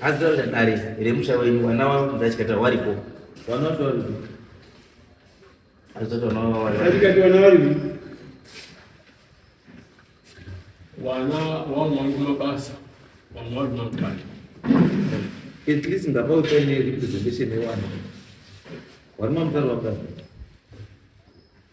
azitaura dare remusha wenyu vana vavo mudachikata waripo azitoti vana vavo waripo vana vamwe vari kumabasa vamwe vari kumabasa at least ngapa utsvaine representation yewana vari mamutari vabasa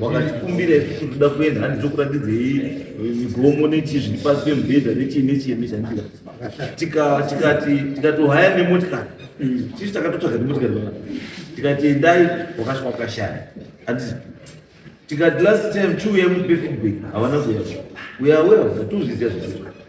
wakatikumbira isusu tinoda kuenda handi tokuratidzei eh, migomo nechii zviri pasi pemubhedha nechii nechii nezvandira tikati tikatohaya nemotikari tisu takatotsvaga nemotikari aa tikati endai wakasvika wakashaya anditi tikati last time chiuya mupe feedback havana kuya uya uya tozviziva zvasii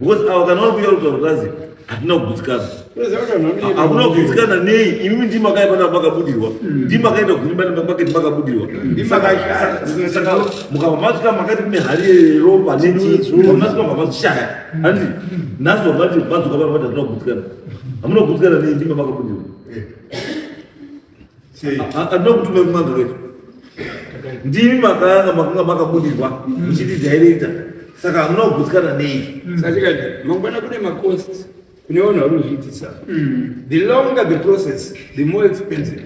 because ava kana vari kuita kutaura kazi hatina kugutsikana hakuna kugutsikana nei imimi ndi makaipa na makabudirwa hmm. ndi makaita kuimba nemaketi makabudirwa saka mukava masvika makati kune hari yeropa nemasvika mavashaya handi nhasi vamati madzoka vana vati hatina kugutsikana hamuna kugutsikana nei ndima makabudirwa eh. ndinokutume kumagreto ndimi makanga makanga makabudirwa muchiti directa saka hamuna kugutsikana nei satikati mangwana kune macost kune vanhu vari kuzviitisa the longer the process the more expensive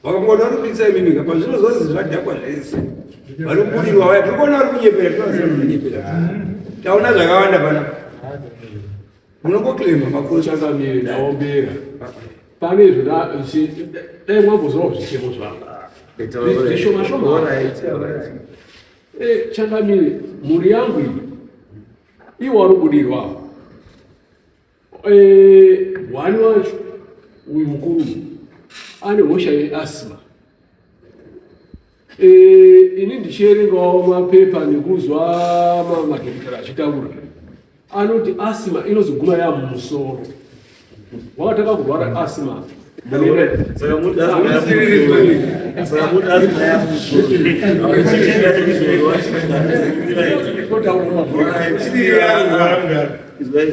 vakangona vari kuitisa imimi ka pazvino zvozi zvadhakwa zvese vari kubudirwa vaya tiri kuona vari kunyepera tinoziva kunyepera taona zvakawanda panapa Munongoclaima makuru changamire ndaombera. Pane izvo dai mwambozorawo zvichemo zvavo. Zvishoma shoma. Eh, changamire mhuri yangu iyi iwo wari kubudirwa eh, hwani wacho uyu mukuru ane hosha yeasma Eh, ini ndichierengawo mapepa nekuzwa mamwe madhokotera achitaura anoti asima inozoguma yaa mumusoro wakatanga kurwara asima It's very